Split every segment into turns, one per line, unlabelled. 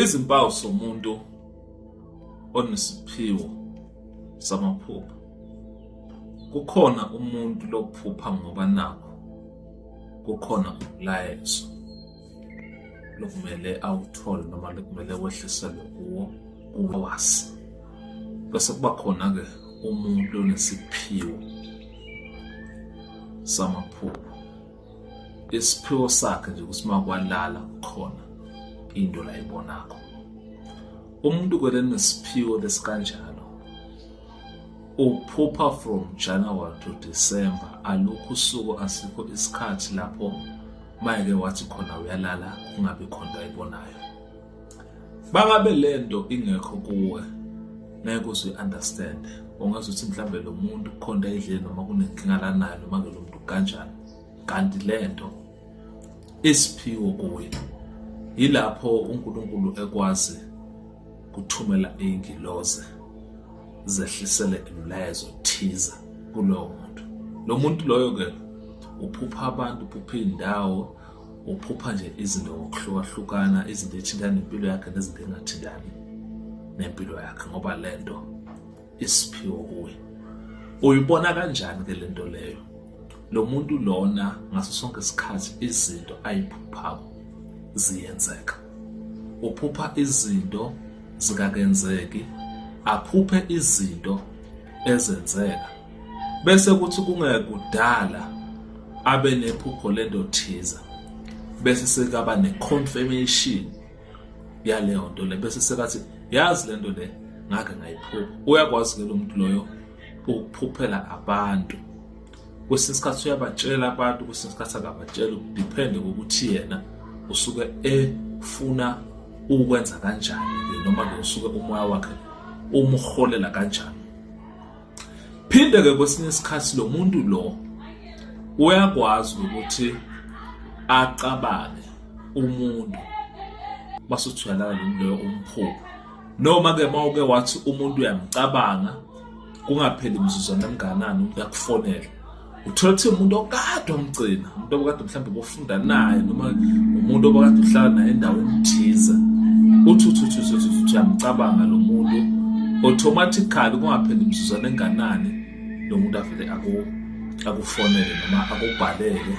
Izimpawu somuntu onesiphiwo samaphupho. Kukhona umuntu lokuphupha ngoba nakho kukhona umlayezo lokumele awuthole noma lokumele wehliselwe kuwo kuwazi. Bese kuba khona ke umuntu onesiphiwo samaphupho. isiphiwo sakhe nje ukuthi makwalala khona into la ibonakho umuntu kweleni isiphiwo lesikanjalo uphupha from January to December alukho usuku asikho isikhathi lapho mayeke wathi khona uyalala kungabi khona ayibonayo bangabe lento ingekho kuwe ngeke usu understand ungazi ukuthi mhlambe lo muntu kukhona edleni noma kunenkinga lanayo noma ke lo muntu kanjani kanti lento isiphiwo kuye yilapho uNkulunkulu ekwazi kuthumela ingiloze zehlisele imilayezo thiza kulowo muntu lo muntu loyo ke uphupha abantu uphupha indawo uphupha nje izinto ngokuhlukahlukana izinto ethinta nempilo yakhe nezinto engathintani nempilo yakhe ngoba le nto isiphiwo kuye uyibona kanjani ke le nto leyo lo muntu lona ngaso sonke isikhathi izinto ayiphuphayo ziyenzeka uphupha izinto zikakenzeki aphuphe izinto ezenzeka bese kuthi kungekudala abe nephupho lento thiza bese sekaba ne-confirmation yaleyo nto le bese sekathi yazi lento le ngake ngayiphupha uyakwazi ke lo muntu loyo ukuphuphela abantu kwesinye isikhathi uyabatshela abantu kwesinye isikhathi akabatshela depende kokuthi yena usuke efuna ukwenza kanjani noma ke usuke umoya wakhe umholela kanjani phinde ke kwesinye isikhathi lo muntu lo uyakwazi ukuthi acabange umuntu basuthulalana nomuntu loyo umphupho noma ke mawuke wathi umuntu uyamcabanga kungapheli mzuzwana emnganani umuntu akufonele uthola ukuthi umuntu okade omgcina umuntu obukade mhlawumbe bofunda naye noma umuntu obukade uhlala naye endaweni ethize uthi uthi uthi uthi uthi uyamcabanga lo muntu automatically kungapheli imizuzwana enganani lo muntu avele akufonele noma akubhalele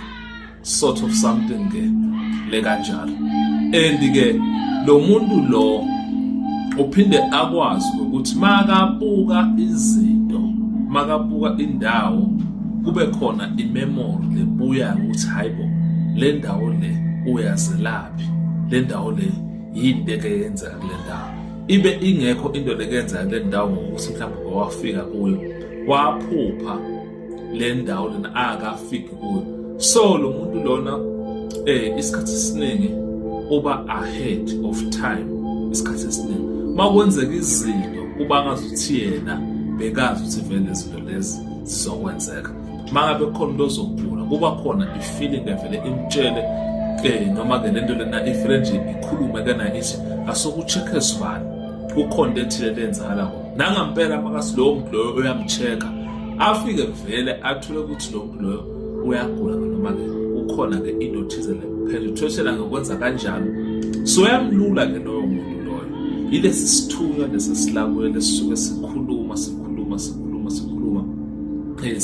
sort of something ke le kanjalo and ke lo muntu lo uphinde akwazi ukuthi makabuka izinto makabuka indawo kube khona imemory lebuya ukuthi hayibo le ndawo le uyazelaphi le ndawo le yini beke yenzeka kule ndawo ibe ingekho into lekenzeka kule ndawo ngokuthi mhlawumbe wawafika kuyo waphupha le ndawo lena akafiki kuyo so lo muntu lona eh isikhathi esiningi uba ahead of time isikhathi esiningi makwenzeka izinto kuba ngazuthi yena bekazi ukuthi vele izinto lezi zizokwenzeka mangabe khona into ozogula kuba khona ifeeling evele imtshele ke eh, noma ke lento lena ifele nje ikhulume kana ithi asoku check esibani kukhona into ethile lenzakala nangampela makasi lowo muntu loyo uyamcheck-a afike vele athule ukuthi lo muntu loyo uyagula noma-ke kukhona-ke into thize le phela uthweshela ngokwenza kanjalo so uyamlula-ke loyo muntu loyo yilesi sithunywa lesi silakuyo lesisuke sikhuluma sikhuluma sikhuluma sikhuluma eh,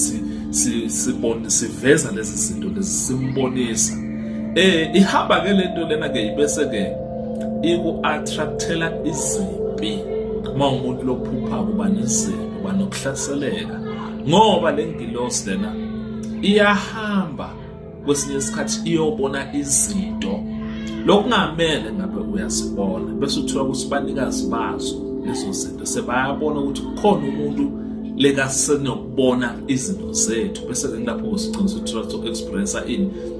sibone siveza lezi zinto lezi simbonisa um ihamba-ke le nto lena-ke ibese-ke iku-attractela izimpi uma umuntu lophupha kuba nezimpi uba nokuhlaseleka ngoba le ngilosi lena iyahamba kwesinye isikhathi iyobona izinto lokungamele ngabe uyazibona bese uthiwa ukuthi banikazi bazo lezo zinto sebayabona ukuthi kukhona umuntu lekasenokubona izinto zethu bese ke kulapho usiqinisa ukuthi experience ini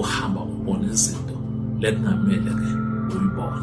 uhamba ubona izinto lekungamele ke uyibone